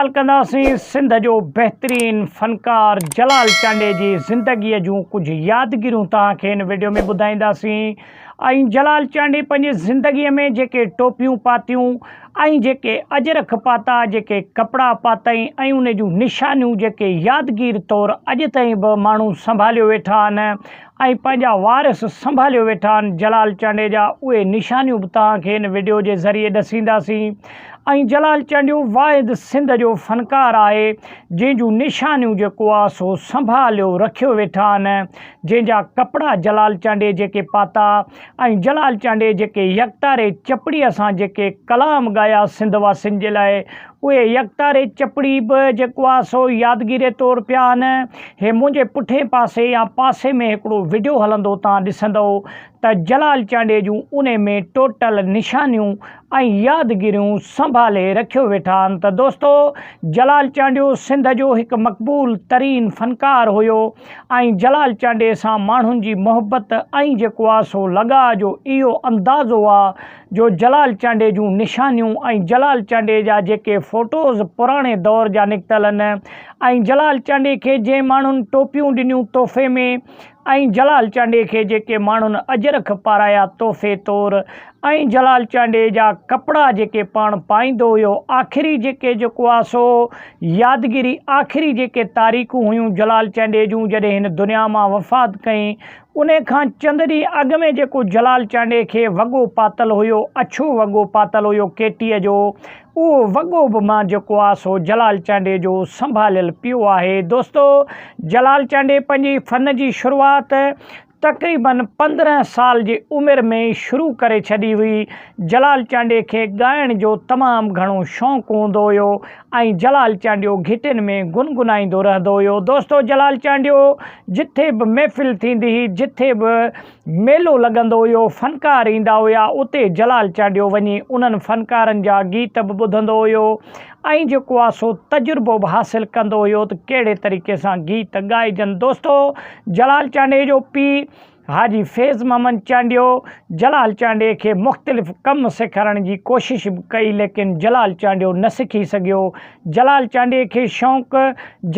ڳالهه ڪنداسين سنڌ جو بهترين فنڪار جلال چانڊيي جي زندگيء جون ڪجهه يادگيريون توهان کي هن وڊيو ۾ ٻڌائينداسين ۽ جلال چانڊيي پنهنجي زندگيء ۾ جيڪي ٽوپيون پاتيون ۽ جيڪي اجرک پاتا جيڪي ڪپڙا پاتائين ۽ ان جون نشانيون جيڪي يادگير طور اڄ تائين به ماڻهو سنڀاليو ويٺا آهن ۽ پنهنجا وارث سنڀاليو ويٺا آهن جلال چانڊيي جا اهي نشانيون به توهان کي ان وڊيو جي ذريعي ڏسينداسين ۽ جلال چانڊيو واحد سنڌ جو فنڪار آهي جنهن جون نشانيون جيڪو آهي سو سنڀاليو رکيو ويٺا آهن جنهن جا ڪپڙا جلال چانڊيي جيڪي پاتا ۽ جلال چانڊيي جيڪي يڪتاري چپڙيء سان جيڪي ڪلام ڳايا سنڌ واسين جي لاء اهي يڪتاري چپڙي به جيڪو آ سو يادگيري طور پيا آهن. هي منهنجي پٺئين پاسي يا پاسي ۾ هڪڙو وڊيو هلندو تان ڏسندئو ته جلال چانڊيي جون انهي ۾ ٽوٽل نشانيون ۽ يادگيريون سنڀالي رکيو ويٺا آهن ته دوستو جلال چانڊيو سنڌ جو هڪ مقبول ترين فنڪار هيو. ۽ جلال چانڊيي سان ماڻهن جي محبت ۽ جيڪو آ سو لڳاء جو اهو اندازو آ جو جلال چانڊيي جون نشانيون ۽ جلال چانڊيي جا جيڪي فوٽوز پراڻي دور جا نڪتل ان ۽ جلال چانڊيي کي جنهن ماڻهن ٽوپيون ڏنيون تحفي ۾ ۽ جلال چانڊيي کي جيڪي ماڻهن اجرڪ پارايا تحفي طور ۽ جلال چانڊيي جا ڪپڙا جيڪي پاڻ پائيندو هيو آخري جيڪي جيڪو آ سو يادگيري آخري جيڪي تاريخون هيون جلال چانڊيي جون جڏهن هن دنيا مان وفات ڪئي انهي کان چند ڏينهن اڳ ۾ جيڪو جلال چانڊيي کي وڳو پاتل هيو اڇو وڳو پاتل هيو ڪيٽيء جو اهو وڳو به مان جيڪو آ سو جلال چانڊيي جو سنڀاليل پيو آهي دوستو جلال چانڊيي پنهنجي فن جي شروعات تقريباً پندرهن سال جي عمر ۾ ئي شروع ڪري ڇڏي هئي. جلال چانڊيي کي ڳائڻ جو تمام گهڻو شوق هوندو هيو ۽ جلال چانڊيو گهٽين ۾ گنگنائيندو رهندو هيو. دوستو جلال چانڊيو جٿي به محفل ٿيندي هئي، جٿي به ميلو لڳندو هيو، فنڪار ايندا هيا، اتي جلال چانڊيو وڃي انهن فنڪارن جا گيت به ٻڌندو هيو ۽ جيڪو آ سو تجربو به حاصل ڪندو هيو ته ڪهڙي طريقي سان گيت ڳائجن. دوستو جلال چانڊيي جو پيء حاجي فيض محمد چانڊيو جلال چانڊيي کي مختلف ڪم سيکارڻ جي ڪوشش به ڪئي ليڪن جلال چانڊيو نه سکي سگهيو. جلال چانڊيي کي شوق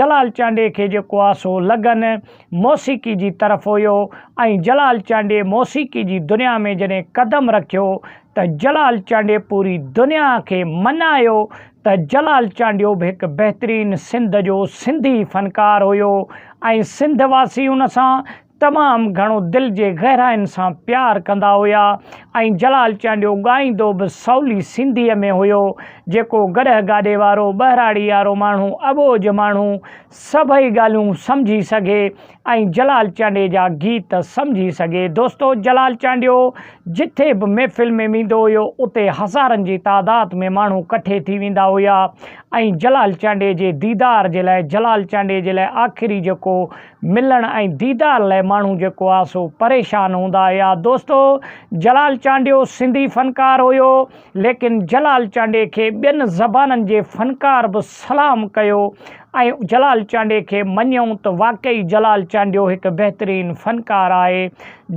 جلال چانڊيي کي جيڪو آ سو لگن موسيقي جي طرف هيو ۽ جلال چانڊيي موسيقي جي دنيا ۾ جڏهن قدم رکيو ته جلال چانڊيي پوري دنيا کي منايو ته جلال چانڊيو به هڪ بهترين سنڌ جو سنڌي فنڪار هيو ۽ سنڌ واسي ان سان تمام گهڻو دل جي گهراين سان پيار ڪندا هيا ۽ جلال چانڊيو ڳائيندو به سولي سنڌيء ۾ هيو جيڪو گڏهه گاڏي وارو ٻهراڙي وارو ماڻهو اٻوجهه ماڻهو سڀئي ڳالهيون سمجهي سگهي ۽ جلال چانڊيي جا گيت سمجهي سگهي دوستو جلال چانڊيو جٿي به محفل ۾ ويندو هيو اتي هزارن جي تعداد ۾ ماڻهو ڪٺي ٿي ويندا هيا ۽ جلال چانڊيي جي ديدار جي لاء جلال چانڊيي جي لاء آخري جيڪو ملڻ ۽ ديدار لاء ماڻهو جيڪو آ سو پريشان هوندا هيا دوستو جلال چانڊيو سنڌي فنڪار هيو. ليڪن جلال چانڊيي کي ٻين زبانن جي فنڪار به سلام ڪيو ۽ جلال چانڊيي کي مڃيون ته واقعي جلال چانڊيو هڪ بهترين فنڪار آهي.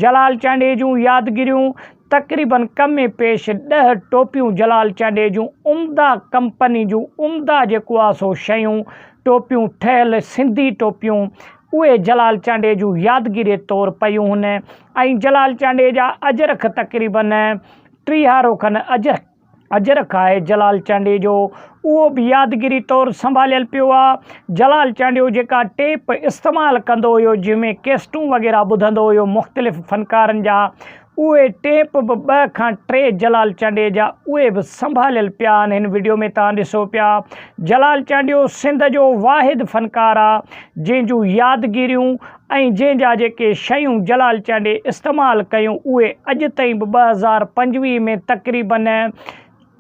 جلال چانڊيي جون يادگيريون، تقريباً ڪمي پيش ڏهه ٽوپيون جلال چانڊيي جون عمده ڪمپني جون عمده جيڪو آهي سو شيون، ٽوپيون ٺهيل سنڌي ٽوپيون اهي جلال چانڊيي جون يادگيري طور پيون هن ۽ جلال چانڊيي جا اجرخ تقريباً ٽيهه روخن اجهه اجهر کائي جلال چانڊيي جو اهو به يادگيري طور سنڀاليل پيو آ. جلال چانڊيو جيڪا ٽيپ استعمال ڪندو هيو جنهن ۾ ڪيسٽون وغيره ٻڌندو هيو مختلف فنڪارن جا اهي ٽيپ به ٻه کان ٽي جلال چانڊيي جا اهي به سنڀاليل پيا آن هن وڊيو ۾ توهان ڏسو پيا جلال چانڊيو سنڌ جو واحد فنڪار آ جنهن جون يادگيريون ۽ جنهن جا جيڪي شيون جلال چانڊي استعمال ڪيون اهي اڄ تائين به ٻه هزار پنجويهه ۾ تقريباً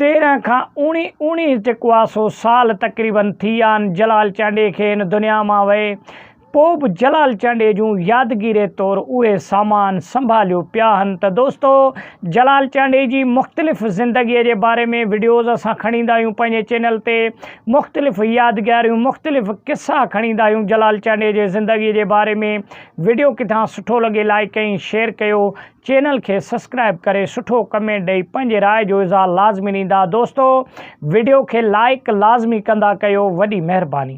تيرنهن کان اوڻيهه اوڻيهه جيڪو آهي سو سال تقريباً ٿي ويا آهن جلال چانڊي کي هن دنيا مان وئي پوء به جلال چانڊي جون يادگيري طور اهي سامان سنڀاليو پيا آهن ته دوستو جلال چانڊي جي مختلف زندگيء جي باري ۾ وڊيوز اسان کڻي ايندا آهيون پنهنجي چينل تي مختلف يادگاريون مختلف قصا کڻيندا آهيون جلال چانڊيي جي زندگي جي باري ۾ وڊيو ڪٿان سٺو لڳي لائيڪ ۽ شيئر ڪيو چينل کي سسڪرائب ڪري سٺو ڪمينٽ ڏئي پنهنجي راء جو اظهار لازمي ڏيندا دوستو وڊيو کي لائيڪ لازمي ڪندا ڪيو وڏي مهرباني.